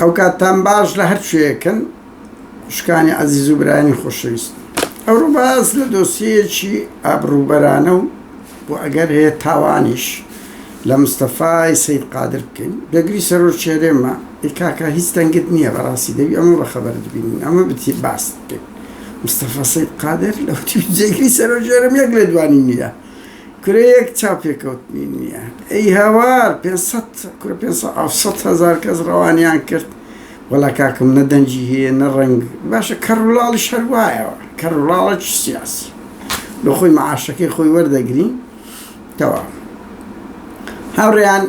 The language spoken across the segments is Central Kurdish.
ئەوکاتتان باش لە هەر کوێیەکن خوشکانی عەزیز و برایانی خۆشەویست. ئەمڕۆ باس لە دۆسیەیەکی ئابڕووبەرانە و بۆ ئەگەر هەیە تاوانیش لە مستەفای سەید قادر بکەین. بێگری سەرۆکی هەرێمە، ئەی کاکە هیچ دەنگت نییە بەڕاستی دەبی ئەمە بە خەبەرت بینین ئەمە بتیت باست بکەین. مستەفا سەید قادر لە وتی بێگری سەرۆکی هەرێم یەک لێدوانی نییە. کورە یەک چاو پێکەوتنی نییە ئەی هاوار پێنج سەد کورە پێنج سەد ئەو سەد هەزار کەس ڕەوانیان کرد وەڵا کاکم نە دەنگی هەیە نە ڕەنگ باشە کەڕولاڵیش هەر وایەوە کەڕولاڵێکی سیاسی بۆ خۆی مەعاشەکەی خۆی وەردەگری تەواو هاوڕێیان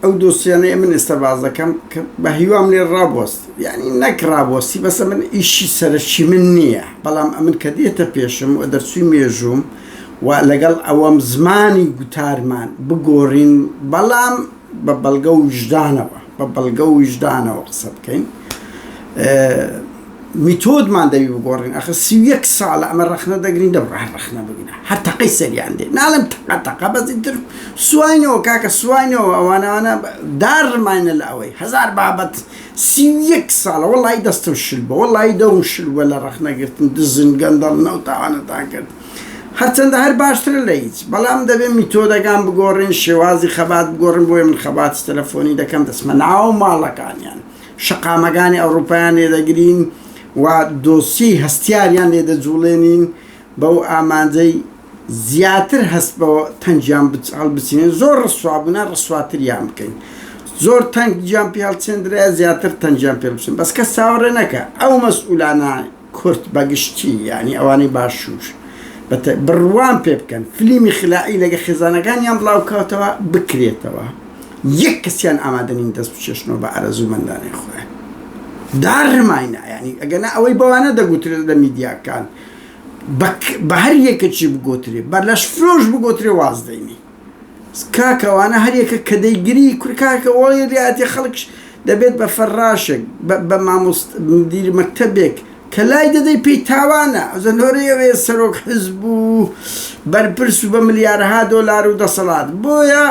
ئەو دۆسیانەی من ئێستا بازەکەم کە بە هیوام لێ ڕابوەست یعنی نەک ڕابوەستی بەسە من ئیشی سەرشی من نییە بەڵام ئەمن کە دێتە پێشم و دەرچوی مێژووم و لەگەڵ ئەوەم زمانی گوتارمان بگۆڕین بەڵام بە بەڵگە و وژدانەوە بە بەڵگە و وژدانەوە قسە بکەین میتۆدمان دەوی بگۆڕین ئەخ سی و یەک ساڵە ئەمە ڕەخنە دەگرین دەم ڕەح ڕەخنە بگرە هەر تەقەی سەریان دێ ناڵم تەقە تەقە بەزی تر سواینەوە کاکە سواینەوە ئەوانەوانە دار ڕماینە لە ئەوەی هەزار بابەت سی و یەک ساڵە وەڵی دەستم شل بە وەڵی دەوم شل وە لە ڕەخنەگرتن دزن گەندەڵ نەوتاوانەتان کرد هەرچەندە هەر باشترە لە هیچ بەڵام دەبێت میتۆدەگان بگۆڕین شێوازی خەبات بگۆڕن بۆیە من خەباتی تەلەفۆنی دەکەم دەچمە ناو ماڵەکانیان شەقامەکانی ئەوڕوپایان لێ دەگرین و دۆسیەی هەستیاریان لێ دەجوڵێنین بەو ئامانجەی زیاتر هەست بە تەنگیان هەڵبچینێن زۆر ڕسوا بوونە ڕسواتریان بکەین زۆر تەنگ گیان پێ هەڵچێندرە زیاتر تەنگیان پێ بچن بەس کەس چاوەڕێ نەکە ئەو مەسئولانە کورد بە گشتی یانی ئەوانەی باشوور بە تە بڕوام پێ بکەن فلیمی خلائی لەگە خێزانەکانیان بڵاو کاتەوە بکرێتەوە یەک کەسیان ئامادە نین دەست بچێشنەوە بە ئارەزوو مەندانەی خۆیان داڕمای نایانی ئەگەنا ئەوەی بەوانە دەگوترێت لە میدیاکان بە هەر یەکەکی بگۆترێ بە لەش فرۆش بگۆترێ واز دەینی کاکە ئەوانە هەر یەکە کە دەیگری. کورە کاکە وەڵی ریاتێ خەڵکش دەبێت بە فەراشێک بە مامۆست مدیر مەکتەبێک کە لای دەدەی پێی تاوانە ئەزە لۆرەی ئەوێ سەرۆک حزب و بەرپرس و بە ملیارەها دۆلار و دەسەڵات بۆیە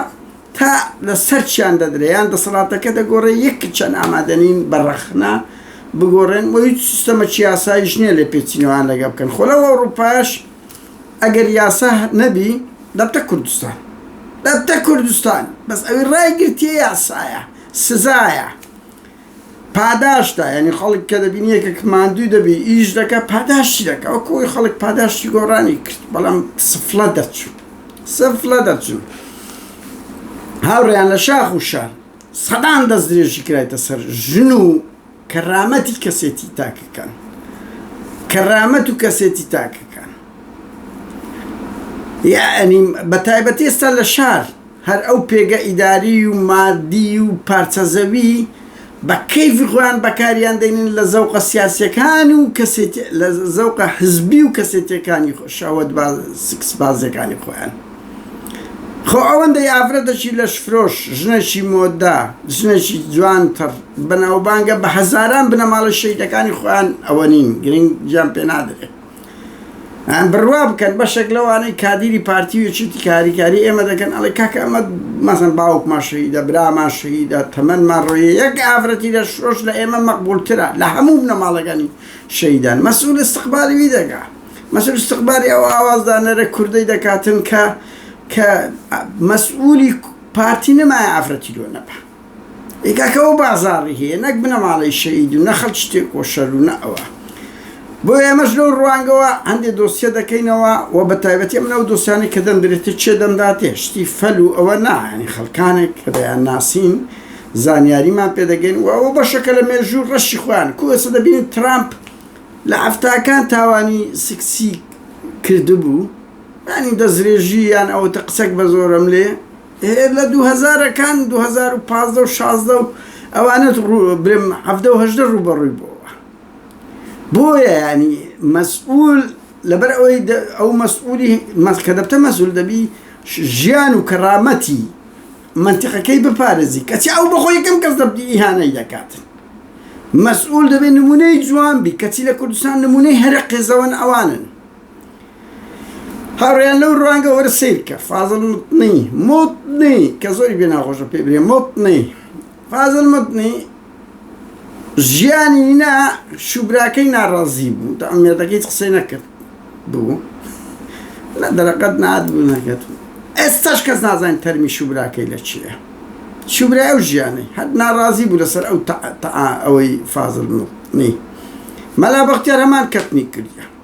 تا لە سەرچیان دەدرێ یان دەسەڵاتەکە دەگۆرێ یەک کچەن ئامادە نین بە رەخنە بگۆرێن وە هیچ سیستەمەکی یاسایش نیە لێپێچینەوەیان لەگە بکەن خۆ لەو ئەوروپایەش ئەگەر یاسا نەبی دەبتە کوردستان دەبتە کوردستان بەس ئەوی ڕای گرتیە یاسایە سزایە پاداشتە یعنی خەڵک کە دەبینی یەکێک ماندووی دەبی ئیش دەکە پاداشتی دەکە وەکو ئەوی خەڵک پاداشتی گۆڕانی کرد بەڵام سفلە دەرچوو سفلە دەرچوو هاوڕێیان لە شاخ و شار سەدان دەست درێژی کرایتە سەر ژن و کەرامەتی کەسێتی تاکەکان کەرامەت و کەسێتی تاکەکان یعنی بە تایبەتی ئێستا لە شار هەر ئەو پێگە ئیداری و مادی و پارچەزەوی بە کەیفی خۆیان بەکاریان دەینن لە زەوقە سیاسەکان و کەسێتی لە زەوقە حزبی و کەسێتەکانی خۆ شاوەت سکس بازەکانی خۆیان خۆ ئەوەندەی ئافرەتەکی لەشفرۆش، ژنێکی مۆدە، ژنێکی جوانتڕ، بەناوبانگە بە هەزاران بنەماڵەی شەهیدەکانی خۆیان ئەوە نین، گرنگیان پێ نادرێ. بڕوا بکەن بەشێک لەوانەی کادیری پارتی و یەکێتی کە هاریکاری ئێمە دەکەن ئەڵێ کاکە ئەمە مەسەن باوکمان شەهیدە، برامان شەهیدە، تەمەنمان ڕۆییە، یەک ئافرەتی لەشفرۆش لە ئێمە مەقبوولترە، لە هەموو بنەماڵەکانی شەهیدان. مەسئول ئیستقبالی وی دەکا. مەسرور ئیستیغباری ئەو ئاوازدانەرە کوردەی دەکاتن کە کە مەسئولی پارتی نەمایە ئافرەتی لۆ نەبا ئێ کاکە ئەو بازاڕی هەیە نەک بنەماڵەی شەهید و نە خەڵکی تێکۆشەر و نە ئەوە بۆ ئێمەش لەو ڕوانگەوە هەندێ دۆسیە دەکەینەوە و بە تایبەتی ئەم ناو دۆسیانی کە دەمدرێتە چێ دەمداتێ شتی فەل و ئەوە نایانی خەڵکانێک کە دەیان ناسین زانیاریمان پێدەگەین و ئەوە بەشەکە لە مێژوو ڕەشی خۆیان کوێسە دەبینین ترامپ لە حەفتاکان تاوانی سکسی کردبوو یانی دەسترێژی یان ئەوتە قسەک بە زۆرەم لێ هەیە لە دوو هەزارەکان دوو هەزار و پازدە و شازدە و ئەوانە برێم حەفتە و هەژدە ڕووبەڕووی بۆ بۆیە ینی مەسئول لەبەر ئەوەی ئەو مەسئولی مەسکە دەبتە مەسول دەبی ژیان و کەڕامەتی مەنتیقەکەی بپارێزی کەچی ئەو بەخۆ یەکەم کەس دەبتی ئیهانەی دەکات مەسئول دەبێت نمونەی جوان بی کەچی لە کوردستان نمونەی هەرە قێزەوەن ئەوانن هاوڕیان لەو ڕوانگە وەرە سیرکە فازل متنی متنی کە زۆری بێ ناخۆشە پێ برێ متنی فازل متنی ژیانی نا شوبراکەی ناڕازی بوو تا ئەمێدەکە هیچ قسەی نەکرد بوو لە دەرەقەت نات بوو نەکرد ئێستاش کەس نازانین تەرمی شوبراکەی لە چیە شوبرا ئەو ژیانەی هەر ناڕازی بوو لەسەر ئەو ئەوەی فازل نی مەلا بەختیار هەمان کەتنی کردە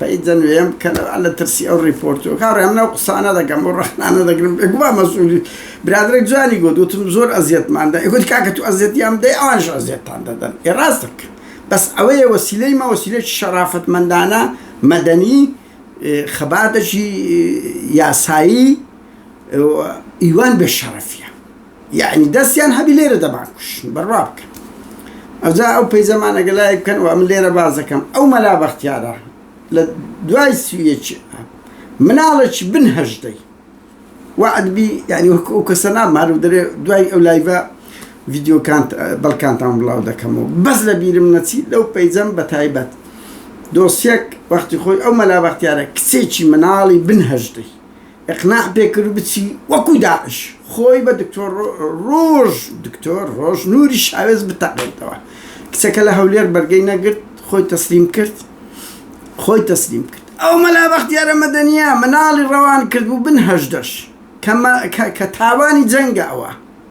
پەی دەنوێم بکەنەوە لە ترسی ئەو ڕیپۆرتو کاڕێ ئەمنەو قسانە دەکەم و ڕەخنانە دەگرم بێگومان مەسئولی برادەرێک جوانی گوت وتم زۆر ئەزیەتمان دا ئیگوت کاکە تو ئەزیەتیان بدەی ئەوانیش ئەزیەتتان دەدەن ئێ ڕاست دەکەن بەس ئەوەیە وەسیلەی مە وەسیلەیەکی شەڕافەتمەندانە مەدەنی خەباتەکی یاسایی ئیوان بێ شەڕەفیە. یەعنی دەستیان هەبی لێرە دەمان کوشن بڕوا بکەن ئەجا ئەو پەیزەمان ئەگە لای بکەن و من لێرە باز دەکەم ئەو مەلا بەختیارە لە دوای سویەکی مناڵێکی بن هەژدەی وعدبی یعنی وەکو ئەو کەسە نامار و دەرێ دوای ئەو لایڤە ڤیددیوکان بەڵکانتان بڵاو دەکەمەوە بەس لە بیرم نەچی لەو پەیجەم بە تایبەت دۆسیەک وەختی خۆی ئەو مەلا بەختیارە کچێکی مناڵی بن هەژدەی ئیقنا پێ کرد بچی وەکو داعش خۆی بە دکتۆر ڕۆژ دکتۆر ڕۆژ نوری شاوێس بتەقێتەوە کچەکە لە هەولێر بەرگەی نەگرت خۆی تەسلیم کرد خۆی تەسلیم کرد ئەو مەلا بەختیارە مەدەنیە مناڵی ڕەوان کرد و بن هەژدەش کە تاوانی جەنگە ئەوە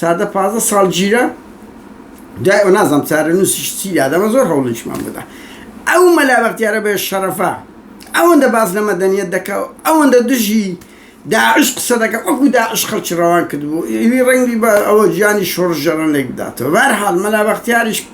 سادە پازدە ساڵ گیرە دوای ئەو نازم چارە نووسیش چی یادەمە زۆر هەوڵیشمان بدا ئەو مەلا بەختیارە بێ شەرەفە ئەوەندە باز لە مەدەنیت دەکا و ئەوەندە دژی داعش قسە دەکە وەکو داعش خەڵکی ڕەوان کردبوو ئیوی ڕەنگی بە ئەوە گیانی شۆڕژەرەن لێک بداتەوە بارحال مەلا بەختیاریش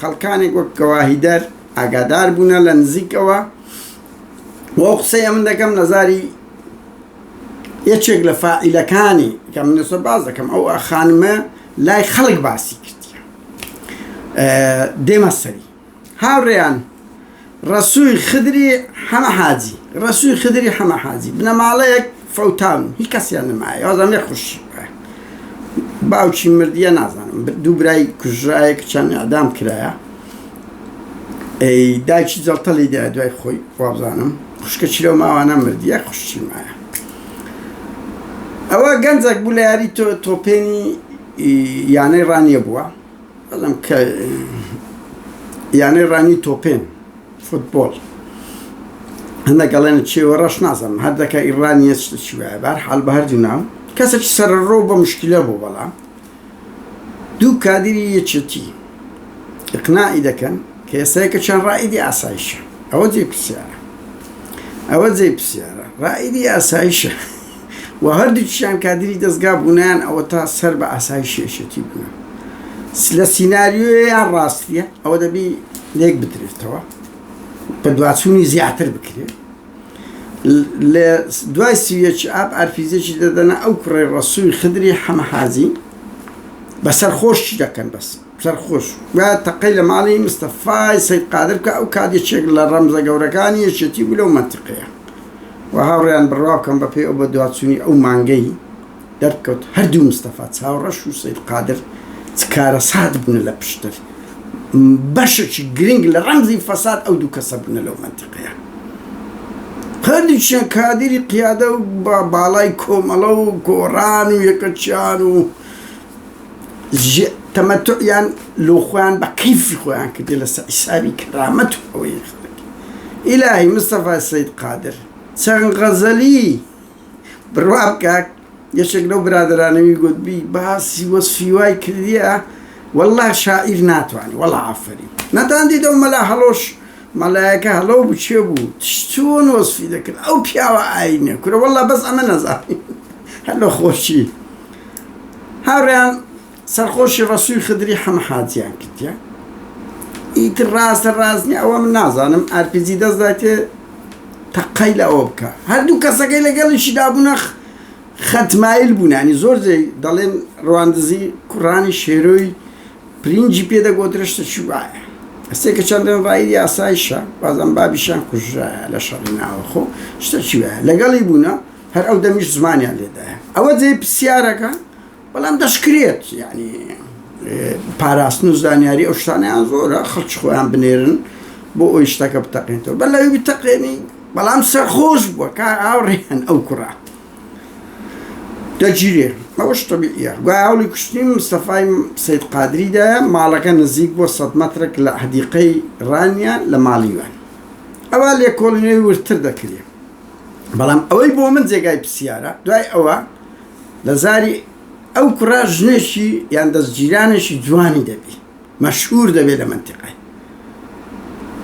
خەڵکانێک وەک گەواهیدەر ئاگادار بوونە لە نزیکەوە و ئەو قسەیە من دەکەم لە زاری یەکێک لە فاعیلەکانی کە من لەسەر باز دەکەم ئەو خانمە لای خەڵک باسی کردیە دێمە سەری هاوڕێیان ڕەسووی خدری حەمە حاجی ڕەسووی خدری حەمە حاجی بنەماڵەیەک فەوتان و هی کەسیان نەمایە وازان مێ خوشی باوکی مردیە نازانم دوو برای کوژرایە کچان ئەدام کرایە داکی جەڵتەلی دا دوای خۆی وابزانم خوشکە چیرەوە ماوانە مردیە خوشی مایە ئەوە گەنجێک بوو لە یاری تۆ تۆپێنی یانەی ڕانیە بووە بەڵام کە یانەی ڕانی تۆپێن فوتبۆڵ هەندە گەڵێن چێوە ڕەش نازم هەردەکە ئیڕانیە چی وایە بار حال بە هەردوو ناو کەسێکی سەرڕۆ بە مشکلە بوو بەڵام دوو کادری یەکێتی ئقنائی دەکەن کە ئێسایکە چەند ڕائیدی ئاسایشە ئەوە جێ پرسیارە ئەوە جێ پرسیارە ڕائیدی ئاسایشە و هەردووکیشیان کادری دەزگا بوونیان ئەوەتا سەر بە ئاسایشی یەکێتی بوون لە سیناریۆیە یان ڕاستیە ئەوە دەبی لێک بدرێتەوە بە دواچوونی زیاتر بکرێت لە دوای سیویەکی ئاپ ئەرفیزێکی دەدەنە ئەو کوڕی ڕسووی خدری حەمەحازی بەسەر خۆشی دەکەن بەس سەرخۆش بە تەقەی لە ماڵی مستەفای سەید قادر بکە ئەو کات یەکێک لە ڕەمزە گەورەکانی یەکێتی بوو لەو مەنتیقەیە و هاوڕێیان بڕوا بکەم بە پێی ئەو بەدواچوونی ئەو مانگەی دەرکەوت هەردوو مستەفا چاوڕەش و سەید قادر چ کارەسات بوونە لە پشتر بەشێکی گرنگ لە ڕەمزی فەساد ئەو دوو کەسە بوونە لەو مەنتیقەیە هەردووچیان کادری قیادە و باڵای کۆمەڵە و گۆڕان و یەکەچیان و ژ تەمەتوعیان لۆ خۆیان بە قیفی خۆیان کردی لە سە ئیسابی کەرامەت و ئەوەی یەخنەکە ئیلاهی مستەفا سەید قادر چەند غەزەلی بڕوا بکاک یەکێک لەو برادرانەوی گوتبی باسی وەسفی وای کردیە والله شاعیر ناتوانێت وەڵا ئافەری نەتان دیدە و مەلا هەڵۆش مەلایەکە هەڵۆ بچێ بوو چۆن وەسفی دەکرد ئەو پیاوە ئاینە کورە والله بەس ئەمە نەزانی هەلۆ خۆشی هاوریان سەرخۆشی ڕەسوی خدری حەمە حاجیان کردیە ئیتر ڕاستە ڕاستنی ئەوە من نازانم ئارپیجی دەست دایتێ تەقەی لە ئەوە بکە هەردوو کەسەکەی لەگەڵیشی دابوونە خەتمایل بوونانی زۆر جێ دەڵێن ڕواندزی کوڕانی شێرۆی پرینجی پێدەگۆترشتە چوبایە ئەسێ کە چەندن ڕای یاسایشە بازم بابیشان کوژرایە لە شەڕی ناوەخۆ شتە چوە لەگەڵی بوونە هەر ئەو دەمیش زمانیان لێدایە ئەوە جێ پرسیارەکە بەڵام دەشکرێت یعنی پاراستن و زانیاری ئەو شتانیان زۆرە خەڵکی خۆیان بنێرن بۆ ئەوی شتەکە بتەقێنەوە بە لەوی بتەقێنی بەڵام سەرخۆش بووە کا ئاوڕێن ئەو کوڕە دەگیرێ ئەوش طبیعە گوای هەوڵی کوشتنی مستەفای سید قادریدا ماڵەکە نزیک بۆ سە مەترێک لە حدیقەی ڕانیە لە ماڵیوان ئەوە لێکۆڵینەوەی ورتر دەکرێت بەڵام ئەوەی بۆ من جێگای پرسیارە دوای ئەوە لە زاری ئەو کوڕە ژنێکی یان دەستگیرانێکی جوانی دەبی مەشهور دەبێت لە منتیقای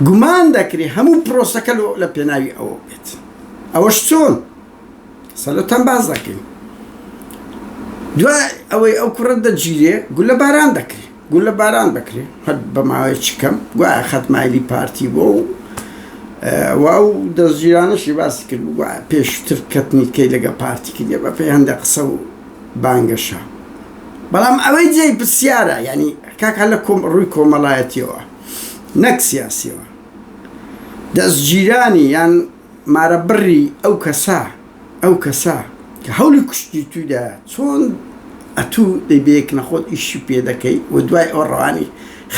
گومان دەکری هەموو پرۆسەکە لە پێناوی ئەوە بێت ئەوەش چۆن سەلۆتان باز دەکەین دوای ئەوەی ئەو کوڕە دەگیرێ گولە باران دەکرێت گولە باران دەکرێ هەر بە ماوەی چ کەم گوایە خەت مایلی پارتی بۆ و وا و دەستگیرانەشی باسی کرد گوایە پێشتر کەتنی کەی لەگە پارتی کردە بە پێی هەندە قسە و بانگەشە بەڵام ئەوەی جێی پرسیارە یعنی کاکە لە کۆم ڕووی کۆمەڵایەتیەوە نەک سیاسیەوە دەستگیرانی یان مارە بڕی ئەو کەسە ئەو کەسە کە هەولی کوشتنی توی دایە چۆن ئەتوو دەی بەیەک نەخۆت ئیشی پێ دەکەی و دوای ئەوە ڕەوانی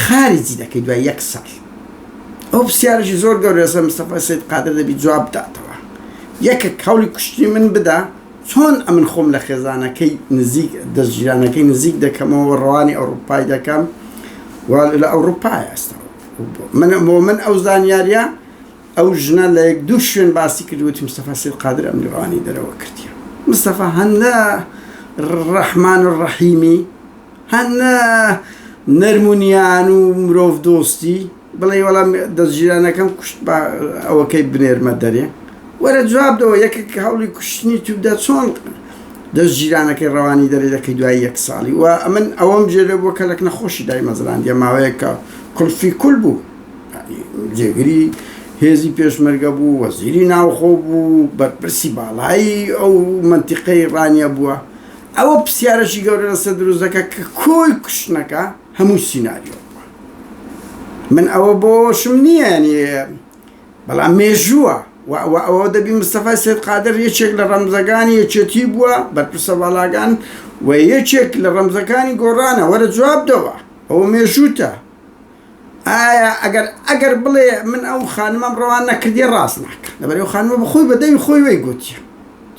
خارجی دەکەی دوای یەک ساڵ ئەو پرسیارێکی زۆر گەورەسە مستەفا سید قادر دەبی جواب بداتەوە یەکێک هەولی کوشتنی من بدا چۆن ئەمن خۆم لە خێزانەکەی نزیک دەستگیرانەکەی نزیک دەکەمەوە ڕەوانی ئەوروپای دەکەم لە ئەوروپای ئەستا من بۆ من ئەو زانیاریە ئەو ژنە لە یەک دوو شوێن باسی کرد وتی مستەفا سید قادر ئەم لیوانەی دەرەوە کردیە مستەفا هەن لە ڕەحمان و ڕەحیمی هەن لە نەرمونیان و مرۆڤ دۆستی بڵێ وەڵام دەستگیرانەکەم کوشت بە ئەوەکەی بنێرمە دەرێ وەرە جواب دەوە یەکێک هەوڵی کوشتنی تودا چۆن دەستگیرانەکەی ڕەوانی دەرێ دەکەی دوای یەک ساڵی و ئەمن ئەوەم جێ لە بۆ کەلک نەخۆشی دای مەزراندە ماوەیەکە کلفی کول بوو جێگری هێزی پێشمەرگە بوو وەزیری ناوخۆ بوو بەرپرسی باڵایی ئەو منتیقەی ڕانیە بووە ئەوە پرسیارەشی گەورە لەسە دروزەکە کە کۆی کوشتنەکە هەموو سینناریۆ من ئەوە بۆشم نییە بەڵام مێژووە ئەوە دەبی مستەفای سێت قادر یەکێک لە ڕەمزەکانی یەکێتی بووە بەرپرسە باڵاگان و یەکێک لە ڕەمزەکانی گۆڕانە وەرە جوابدەوە ئەوە مێژووتە ئایا ئەگەر ئەگەر بڵێ من ئەو خانمەم ڕەوان نەکردیە ڕاست ناکا لەبەرەی ئەو خانمە بە خۆی بە دەوی خۆی وەی گۆتیە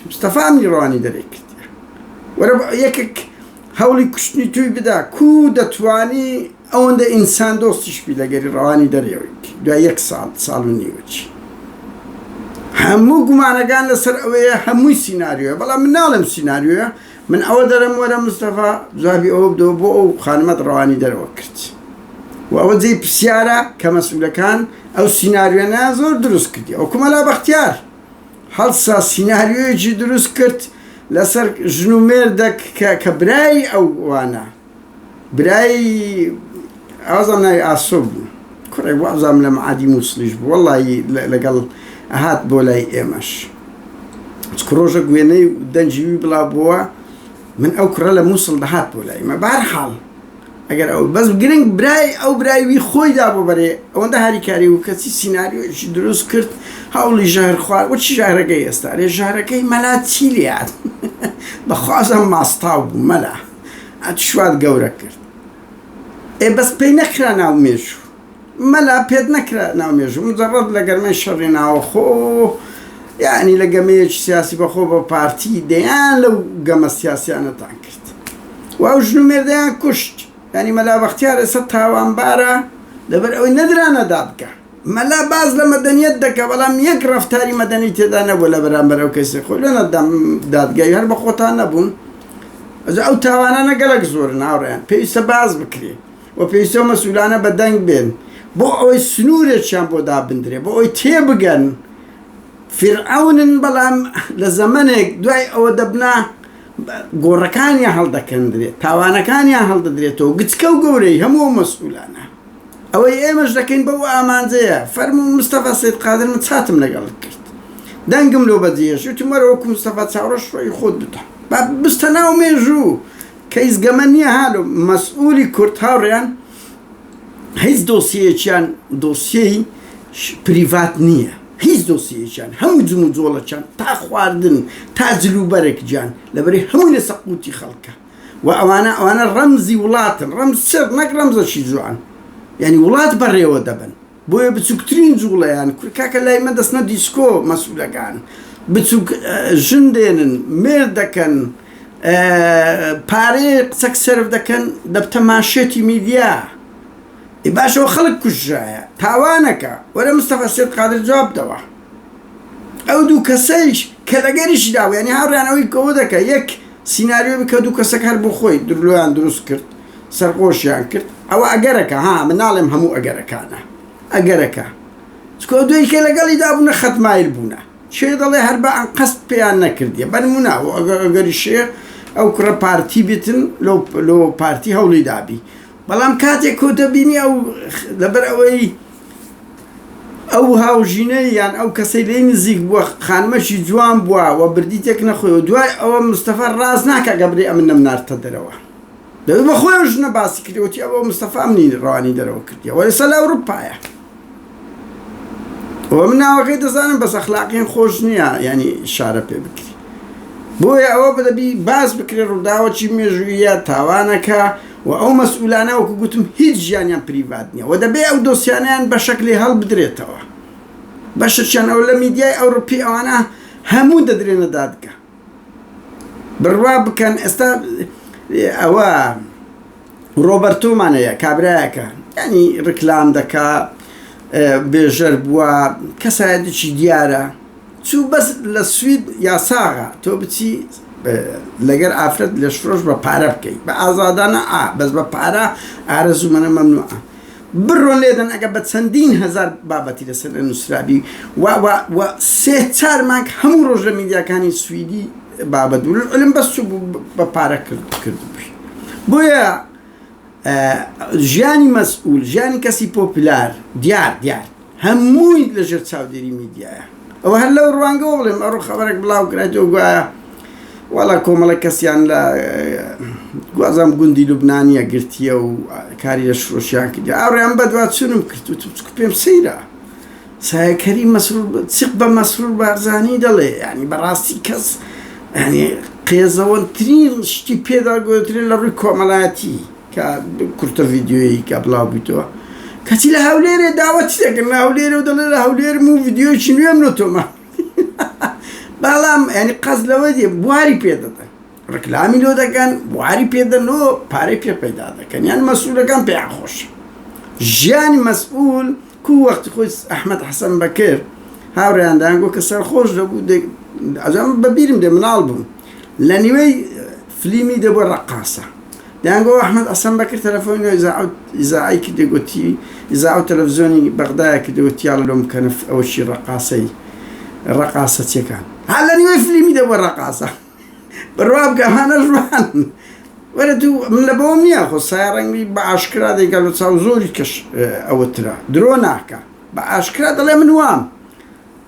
مستەفا ئەمنی ڕەوانی دەرێ کردیە وەرە یەکێک هەوڵی کوشتنی توی بدا کو دەتوانی ئەوەندە ئینسان دۆستیش بی لەگەری ڕەوانی دەرێوەی دوای یەک ساڵ ساڵ و نیوەچی هەموو گومانەکان لەسەر ئەوەیە هەمووی سینناریوە بەڵام مناڵم سینناریوە من ئەوە دەرم وەرە مستەفا جوابی ئەوە بدەوە بۆ ئەو خانمەت ڕەوانی دەرەوە کرد و ئەوە جێی پرسیارە کە مەسئولەکان ئەو سیناریۆنە زۆر دروست کردی ئەو کومەلا بەختیار هەڵسا سیناریۆیەکی دروست کرد لەسەر ژن و مێردەک کە کە برای ئەو وانە برای ئازم ناوی ئاسۆ بوو کوڕێک وازام لە معادی مووسڵیش بوو وەڵی لەگەڵ ئەهات بۆ لای ئێمەش چکە ڕۆژە گوێنەی دەنجوی بڵا بووە من ئەو کوڕە لە مووسڵ دەهات بۆ لای مە بار حاڵ ئەگەر ئەو بەس گرنگ برای ئەو برایوی خۆی دا بۆ بەرێ ئەوەندە هاریکاری و کەسی سینناریۆشی دروست کرد هەوڵی ژەهر خوار وەچ ژارەکەی ئێستا لێ ژارەکەی مەلا چی لات بەخوازم ماستاو بوو مەلا ئەتشوات گەورە کرد. ئێ بەس پێی نەکرا ناو مێژوو. مەلا پێت نەکرا ناو مێژوو. مجەڕەد لە گەرمەی شەڕی ناوەخۆ، یەعنی لە گەمەیەکی سیاسی بەخۆ بە پارتی، دەیان لەو گەمە سیاسیانەتان کرد و ئەو ژن و مێردەیان کوشت. یەعنی مەلا بەختیار ئێستا تاوانبارە لەبەر ئەوەی نەدرانە دادگا. مەلا باس لە مەدەنیەت دەکا بەڵام یەک ڕەفتاری مەدەنی تێدا نەبوو لە بەرامبەر ئەو کەیسەی خۆی لە نەدام دادگای هەر بە خۆتان نەبوون ئەجا ئەو تاوانانە گەلەک زۆرن هاوڕێیان پێویستە باس بکرێ و پێویستە و مەسولانە بە دەنگ بێن بۆ ئەوەی سنوورێکیان بۆ دابندرێ بۆ ئەوی تێبگەن فرعونن بەڵام لە زەمنێک دوای ئەوە دەبنا گۆڕەکانیان هەڵدەکەندرێت تاوانەکانیان هەڵدەدرێتەوە گچکە و گەورەی هەموو مەسئولانە ئەوەی ئێمەش دەکەین بەو ئامانجەیە. فەرموو مستەفا سەید قادر من چاتم لەگەڵت کرد. دەنگم لۆ بەجێهێشت. وتم وەرە وەکوو مستەفا چاوڕەش ڕۆیی خۆت بتە. با بچتە ناو مێژوو. کەیس گەمە نییە ها لۆ مەسئوولی کورد هاوڕێیان هیچ دۆسیەیەکیان دۆسیەی پریڤات نییە. هیچ دۆسیەیەکیان. هەموو جموجۆڵەکیان تا خواردن تا جلوبەرگ گیان لەبەری هەمووی لەسەر قووتی خەڵکە. وە ئەوانە ئەوانە ڕەمزی وڵاتن ڕەمز چڕ نەک ڕەمزەکی جوان یانی وڵات بەڕێوە دەبەن بۆیە بچوکترین جوڵەیان کورد کاکە لای من دەستنە دیسکۆ مەسولەکان بچوک ژن دێنن مێرد دەکەن پارەیە قسەک سرف دەکەن دەبتە ماشێتی میدیا ئی باشەوە خەڵک کوژایە تاوانەکە وەرە مستەفا سێت قادر جواب دەوە ئەو دوو کەسەیش کە لەگەریشدا ینی هاڕیانەوەی کەەوە دەکە یەک سیناریۆ بکە دوو کەسەک هەر بۆ خۆی درلۆیان دروست کرد سەرخۆشیان کرد ئەوە ئەگەرەکە ها من ناڵێم هەموو ئەگەرەکانە ئەگەرەکە چکۆ دوێی کە لەگەڵی دابوونە خەتمایل بوونە چێ دەڵێ هەر بە ئەنقەست پێیان نەکردیە بەرمونا و ئەگەر ئەگەری شێخ ئەو کوڕە پارتی بتن لۆ پارتی هەوڵی دابی بەڵام کاتێک کۆتە بینی ئەو لەبەر ئەوەی ئەو هاوژینەی یان ئەو کەسەی لێی نزیک بووە خانمەکی جوان بووە و بردی تێک نەخۆی و دوای ئەوە مستەفا ڕاز ناکا کە بڵێ ئەمن نەمناردتە دەرەوە دەبێت بە خۆی ژنە باسی کردوەتی ئەوە مستەفا منی ڕوانی دەرەوە کردی وە ئێستا لە ئەوروپایە و من ناوەکەی دەزانم بەس ئەخلاقیان خۆش نییە ینی شارە پێ بکری بۆیە ئەوە بدەبی باز بکرێ ڕووداوەکی مێژوویە تاوانەکە و ئەو مەسئولانە وەکو گوتم هیچ ژیانیان پریڤات نیە و دەبێ ئەو دۆسیانەیان بەشەکلی هەڵبدرێتەوە بەشەکیان ئەو لە میدیای ئەوروپی ئەوانە هەموو دەدرێنە دادگە بڕوا بکەن ئێستا ئەوە ڕۆبەرتۆمانەیە کابراایەکە ینی ڕکلام دەکا بێژەر بووە کەسایەتێکی دیارە چوو بەس لە سوید یاساغە تۆ بچی لەگەر ئافرەت لەشفرۆش بە پارە بکەی بە ئازادانە ئا بەس بە پارە ئارەزوو منە مەمنوعە بڕۆن لێدەن ئەگە بە چەندین هزار بابەتی لەسەر نووسرابی و سێ چار مانگ هەموو ڕۆژ لە میدیاکانی سویدی بابەت علم بەس چوو بە پارە کرد بۆیە ژیانی مەسئول، ژیانی کەسی پۆپلار، دیار دیار هەمووی لە ژێر چاودێری میدیایە. ئەوە هەر لەو ڕوانگەوە بڵێم، ئەڕۆ خەبەرێک بڵاو کرایتەوە گوایە واڵا کۆمەڵێک کەسیان لە گوازام گوندی لوبنانیە گرتیە و کاری لە شرۆشیان کردیە. ئاڕێ ئەم بەدوا چونم کرد وتم چکو پێم سەیرە. سایە کەریم مەسرور چق بە مەسرور بارزانی دەڵێ یعنی بەڕاستی کەس ینی قێزەوەترین شتی پێدا گوترێن لە ڕووی کۆمەڵایەتی کە کورتە ڤیددیویی کە بڵاو بیتەوە کەچی لە هەولێرێ داوەت دەکەن لە هەولێرە و دەڵێ لە هەولێر و ڤیددیویی نوێم لە تۆمە بەڵام ینی قەز لەوە دێ بواری پێ دەدەن ڕیکلامی لۆ دەکەن بواری پێدەن و پارەی پێ پەیدا دەکەن یان مەسولەکان پێیان خۆش ژیانی مەسئول کو وەختی خۆی ئەحمەد حەسەن بەکر هاوڕێیان دەیانگۆ کە سەرخۆش دەبوو ئەجام بەبیرم دێ مناڵ بووم لە نیوەی فلیمی دەبوو ڕەقاسە دەیانگۆ ئەحمەد حەسەن بەکر تەلەفۆنی نۆ ئیزاعی کردێ گوتی ئیزا و تەلەڤزیۆنی بەغدایە کردەوە تیاڵ لۆم کەنف ئەوەشی ڕەقاسەی ڕەقاسەچیەکان هەر لە نیوەی فلیمی دەبوو ڕەقاسە بڕوابکە هەنە ژوان وەرە تو من لە بەوەم نییە خۆ سایەڕەنگی بە ئاشکرا دەیکا لە چاو زۆری کەش ئەوترا درۆ ناکە بە ئاشکرا دەڵێ من وام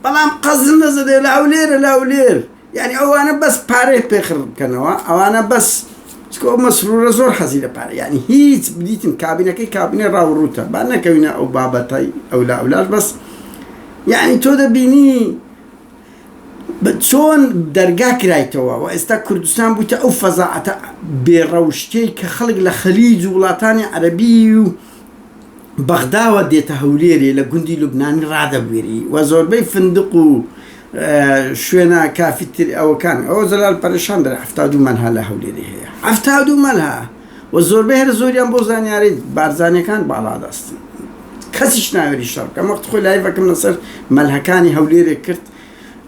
بەڵام قەزم نەزەدێ لە هەولێرە لە هەولێر یعنی ئەوانە بەس پارەی پێخڕ بکەنەوە ئەوانە بەس چکۆ مەسرورە زۆر حەزی لە پارە یعنی هیچ بدیتن کابینەکەی کابینێ ڕاوڕوتە با نەکەوینە ئەو بابەتای ئەولا ئەولاش بەس یعنی تۆ دەبینی چۆن دەرگا کرایتەوە و ئێستا کوردستان بوویتە ئەو فەزاعەتە بێ ڕەوشتەی کە خەڵک لە خەلیج و وڵاتانی عەرەبی و بەغداوە دێتە هەولێرێ لە گوندی لوبنانی ڕادەبوێری و زۆربەی فندق و شوێنە کافیتر ئەوەکان ئەوە زەلال پەرشان دەرێ حەفتا و دوو مەلها لە هەولێرێ هەیە حەفتا و دوو مەلها و زۆربەی هەرە زۆریان بۆ زانیاری بارزانیەکان باڵا دەستن کەسیش ناوێری شەڕ بکەم وەخت خۆی لایڤەکەم لەسەر مەلهەکانی هەولێرێک کرد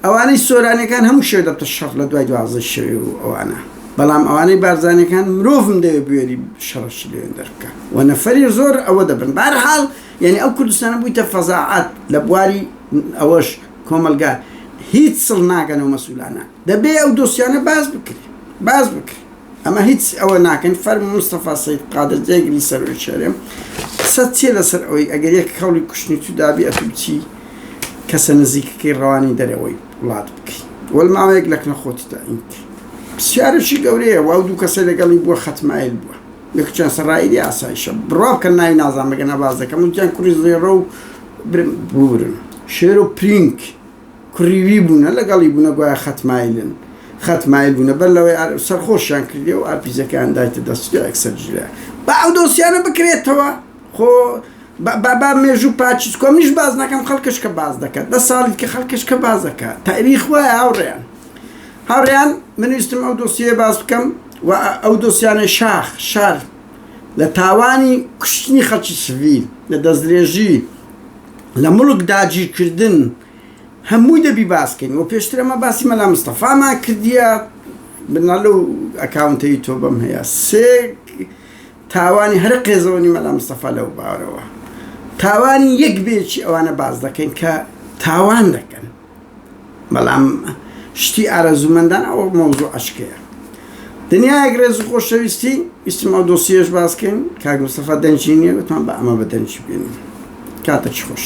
ئەوانەی سۆرانەکان هەموو شێ دەبتە شەڕ لە دوای دوازە شەوێ و ئەوانە بەڵام ئەوانەی بارزانەکان مرۆڤم دەوێت بوێری شەڕش لێن دەرکە و نەفەری زۆر ئەوە دەبن بارحاڵ یعنی ئەو کوردستانە بوویتە فەزاعات لە بواری ئەوەش کۆمەلگا هیچ سڵ ناگەنەوە مەسولانە دەبێ ئەو دۆسیانە باس بکرێ باس بکرێ ئەمە هیچ ئەوە ناکەن فەرم مستەفا سید قادر جێگری سەرۆی شەرێم قسە چیە لەسەر ئەوەی ئەگەر یەک کەڵی کوشتنی تو دابی ئەتو چی کەسە نزیکەکەی ڕەوانی دەرەوەی وڵات بکەیت وەل ماوەیەک لەکنە خۆتیدا ئینت پرسیارەشی گەورەیە واو دوو کەسە لەگەڵی بووە خەتمایل بووە یەکچیان سەرائیدی ئاسایشە بڕوا بکەن ناوی نازان بەگەنە باز دەکەم وتیان کوڕی زێڕە و بورن شێرۆ پرینک کڕیوی بوونە لەگەڵی بوونە گوایە خەت مایلن خەت مایل بوونە بەر لەوەی ئار سەرخۆشیان کردیە و ئارپیجەکەیان دایتە دەست جا ئەکسەر جولەیان با ئەو دۆسیانە بکرێتەوە خۆ با با با مێژوو پاچی چکۆ منیش باس ناکەم خەڵکش کە باس دەکات دە ساڵی کە خەڵکش کە باس دەکات تاریخ وایە هاوڕێیان هاوڕێیان من ویستم ئەو دۆسیە باس بکەم و ئەو دۆسیانە شاخ شار لە تاوانی کوشتنی خەڵکی سڤیل لە دەستدرێژی لە مڵک داگیرکردن هەمووی دەبی باس کەین وە پێشتر ئەمە باسی مەلا مستەفامان کردیە بنا لەو ئەکاونتە یوتۆبەم هەیە سێ تاوانی هەرە قێزەوەنی مەلا مستەفا لەو باوەرەوە تاوانی یەک بێکی ئەوانە باس دەکەین کە تاوان دەکەن بەڵام شتی ئارەزومەندان ئەوە مەوزوع ئەشکەیە دنیایەک ڕێز و خۆشەویستی ویستم ئەو دۆسیەش باسکەین کاک مستەفا دەنگی نیە وتمان بە ئەمە بە دەنگی بێنین کاتەکی خۆش